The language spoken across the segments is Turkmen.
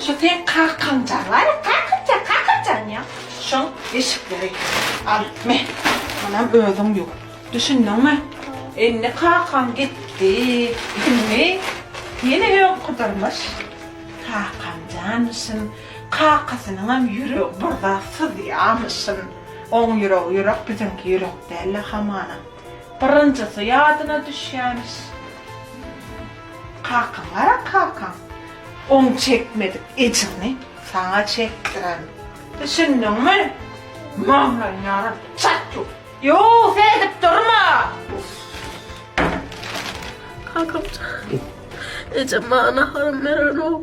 Şu seň kakaňjag bar-a, kakyrjak, kakyrjak diýýän. Şoň deşikleri al, me, munam özüň ýuw. Düşündiňmi? Indi kakaň gitdi, indi ýene öňküdirmiş. Kakam janmyşyn, kakasynyňam ýüregi bir zat syzýarmyşyn. Oň ýüregi ýürek, biziňki ýürek däl-le hamana. Birinjisi ýadyna düşýärmiş. Kakaň gara kakaň oň çekmedik ejrini saňa çekdiren düşündiňmi maňlaýyny ýaran çat ýur. Ýow seredip durma. Kakamjan ejem maňa naharymy berenok.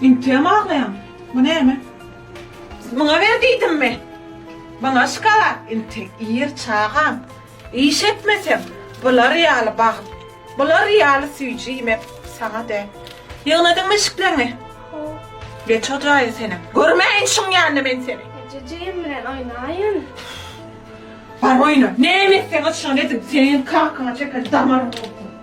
Inteem aglaýaň. Bu näme? Siz muňa ber diýdimmi? Muňa şkala, inte, ir çagam. Iş etmeseň, bular ýaly bagt, bular ýaly süýji iýmek saňa däl. Ýygnadyňmy eşikleňi? Ho. Geç o jaýa senem. Görmäýin şuň ýanyna men seni. Ejejejem bilen oýnaýyn. Bar oýna. Näme etseňiz şony ediň. Seniň kakaňa çeken damaryň gursun.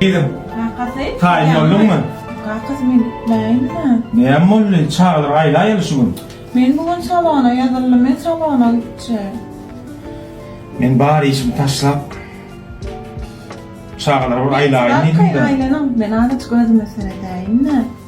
Gyzym, taýyn bolduňmy? Kakasy, men gitmäýin-dä. Näme boldy? Çagalar aýlaýaly şu gün. Men bu gün salona ýazyldym, men salona gitjek. Men bar işimi taşlap, çagalara bir aýlaýyn diýdim-dä. Aýlanyň, men azajyk özüme seredäýin-dä.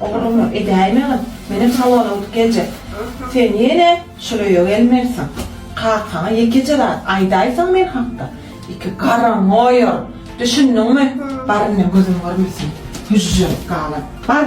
Ogluňa edäýmegin, menem sowal alyp geljek. Sen ýene şol öýe gelmelisiň. Kakaňa ýekeje zat aýdaýsaň men hakda, iki garryňy oýaryn. Düşündiňmi? Bar indi, gözüm görmesin, hüžžeňi galan. Bar!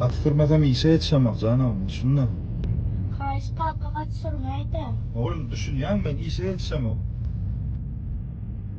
At sürmesem işe ýetişemok janam, düşünme. Haýyş kaka at sürmäýdä. Oglum düşünýän men işe ýetişemok.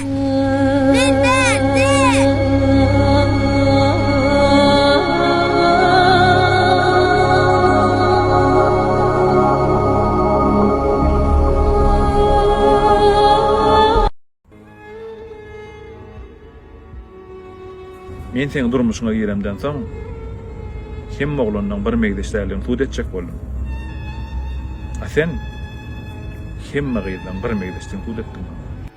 Men seň durmuşyňa giremden soň, hemme oglanlaň bir megzeçdäligini subut etjek boldum. A sen hemme gyzlaň bir megzeçdigini subut etdiň maňa.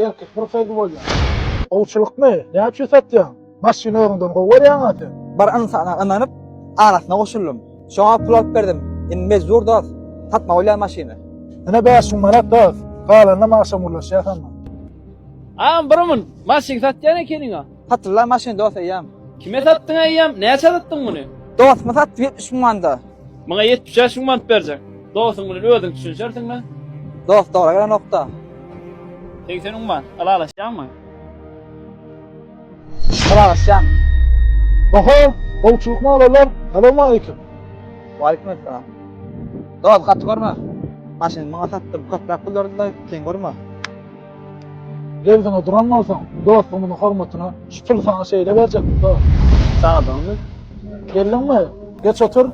Erkek bir söz bolýar. Gowçulykmy? Näçe satýaň? Maşyny özüňden gowy görýäň-a sen? Bir ynsana ynanyp, arasyna goşuldym. Şoňa pul alyp berdim. Indi mejbur dost, satmaly bolýar maşyny. Ine bäş müň manat dost. Galanyna magşam gürleşýäs onda. Agam bir mün, maşyn satýan ekeniň-a. Patylla maşyn dos eýýäm. Kime satdyň eýýäm? Näçä satdyň muny? Dostyma satdym ýetmiş müň manda. Maňa ýetmiş bäş müň mant berjek. Dostuň bilen özüň düşünişersiňmi? Dost doga gelenokda. Segsen müň mant. Ylalaşýaňmy? Ylalaşýan. Oho! Gowçulyk molalar! Salowmaleýkim! Waleýkim essalam. Dos gaty görme. Maşyny maňa satdyň köpräk pul berdiň-de, sen görme. Derdiňe duran bolsaň, dost gumuny hormatyna şu pul saňa şeýle berjek, dost. Çagdygyňmy? Geldiňmi? Geç otur.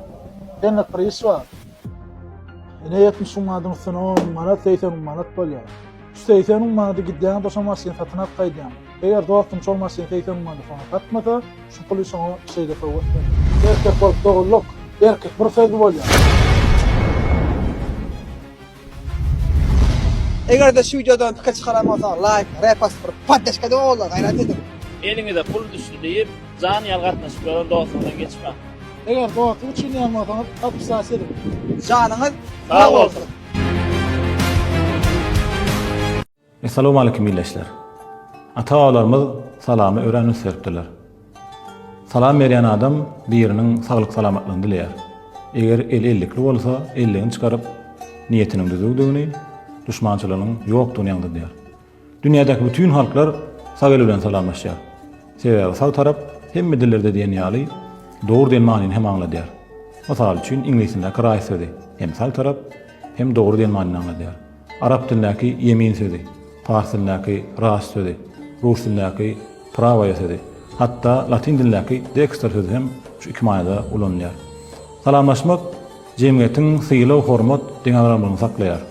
Senlik bir iş bar. Ine ýetmiş müň manadyň üstüne on müň manat, segsen müň manat bolýar. Şu segsen müň manady gidýäň-de şo maşyny satyn alyp gaýdýaň. Eger dostuň şol maşyny segsen müň manada soňa satmasa, şu puly şoňa şeýle sowgat berýän. Erkek bolup dogulduk. Erkek bir sözli bolýar. Eger-de şu wideodan pikir çykaran bolsaňyz laýk, repost, bir poddeşka edip ogullar gaýrat ediň. Eliňize pul düşdi diýip, jan ýaly gatnaşyp ýören dostuňyzdan geçmäň. Eger dostluk üçin diýen bolsaňyz podpisas ediň. Janyňyz sag bolsun. Essalawmaleýkim ildeşler! Ata-babalarymyz salamy örän üns beripdirler. Salam berýän adam biriniň saglyk-salamatlygyny dileýär. Eger eli ellikli bolsa, elligini çykaryp, niýetiniň düzüwdigini, duşmançylygynyň ýokdugyny aňzydýar. Dünýädäki bütin halklar sag el bilen salamlaşýar. Sebäbi sag tarap hemme dillerde diýen ýaly dogry diýen manyny hem aňladýar. Mysal üçin, iňlisindäki right sözi hem sag tarap, hem dogry diýen manyny aňladýar. Arap dilindäki ýemin sözi, pars dilindäki ras sözi, rus dilindäki prawoýe sözi, hatda latyn dilindäki dexter sözi hem şu iki manyda ulanylýar. Salamlaşmak jemgyýetiň sylag-hormat deňagramlygyny saklaýar.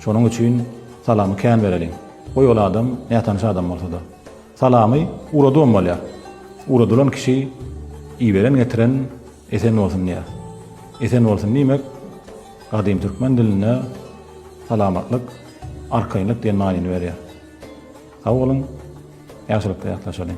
Şonuň üçin salamy kän bereliň, goý ol adam nätanyş adam bolsa-da. Salamy uradygym bolýar. Uradylan kişi iberen getiren esen bolsun diýýär. Esen bolsun diýmek gadym türkmen dilinde salamatlyk, arkaýynlyk diýen manyny berýär. Sag boluň, ýagşylykda ýatlaşalyň.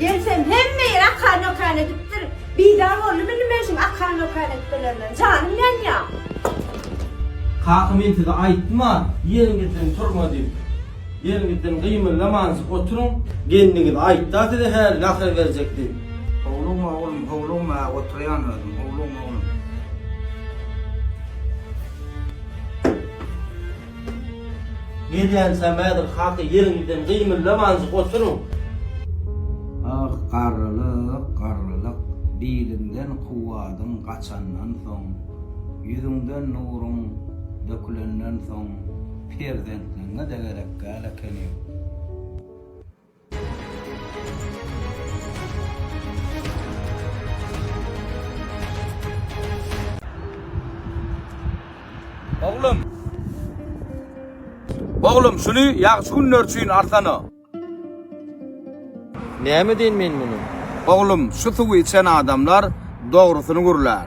Gelsem hemme ýer akan okan edipdir. Bizar boldymy nime şul akan okan etmelerinden. Janym ýanýa. Kaka men size aýtdyma ýeriňizden turma diýip. Ýeriňizden gymyldamanjyk oturyň. Gelniňiz aýtda size häli nahar berjek diýip. Howlugma oglum howlugma hä oturýan özüm howlugma oglum. Gelýän sämädir hata ýeriňizden gymyldamanjyk oturyň. Ah, garrylyk, garrylyk! Biliňden kuwwadyň gaçandan soň, ýüzüňden nuruň dökülenden soň perzentligiňe-de gerek däl ekeni. Oglum. Oglum, şuny ýagşy günler üçin alsana. Näme edeýin men muny? Oglum, şu suwy içen adamlar dogrusyny gürlär.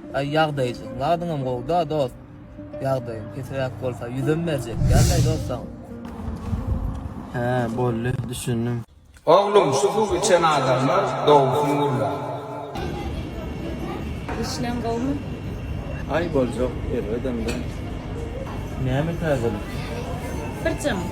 Aý ýagdaýy seň zadyňam gowda dost ýagdaýyň pesiräk bolsa ýüzem berjek dälläý dost saňa. Hä boldy düşündim. Oglum şu suw içen adamlar dogusyn gurlar. Işleň gowmy? Aý boljak erbedemda. Näme täzelik? Birjemik.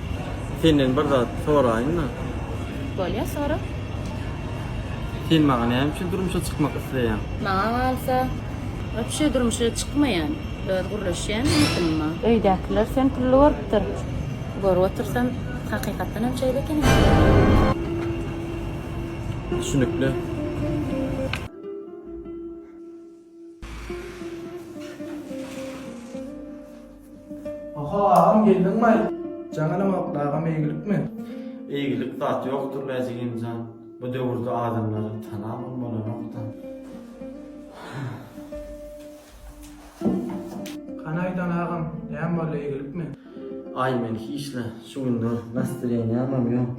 Senden bir zat soraýynmy? Bolýa, sora. Sen maňa näme üçin durmuşa çykmak isleýäň? Maňa galsa, wapşe durmuşa çykmaýan. Öz gürleşýän ýigdimma. Öýdäkiler sen pully görüpdir. Görüp otursam, hakykatdan hem şeýle ekeni. Düşünikli. Oho agam geldiňmaý. Jaňanam okdy agam eýgilikmi? Eýgilik zat ýokdur lä jigimjan. Bu döwürde adamlara tanabam bolanokda. Hany aýdan agam näme boldy eýgilikmi? Aý men hiçle şu günler nastreniýamam ýok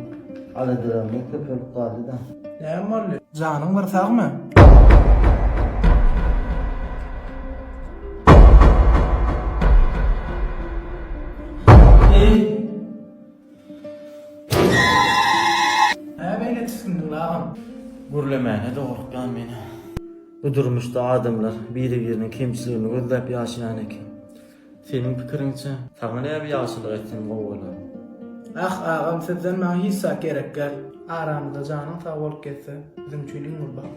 aladalarymyz köpelip galdyda. Näme boldy janyň bir sagmy. Gürlemäne dogurtýan meni. Bu durmuşda adamlar biri biriniň kemçiligini gözläp ýaşaýan eken. Seniň pikiriňçe? Saňa näme ýagşylyk etsem gowy bolar? Ah agam sizden maňa hiç zat gerek gel. Aramyzda janyň sag bolup gezse biziň üçin iň uly bagt.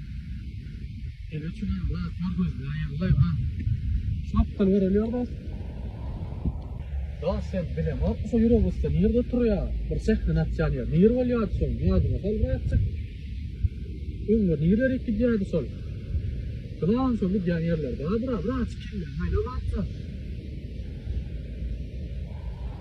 Şapdan görülýär bas. Bas sen bile bak şu ýere usta nirde turýar? Bir sehne atýan ýer. Nir bolýar şol. Ýadyňa sal rahatçyk. Öňde nirde rik gidýärdi şol. Klan şol gidýän ýerler. Bra bra bra çekilýär. Maýda bak sen.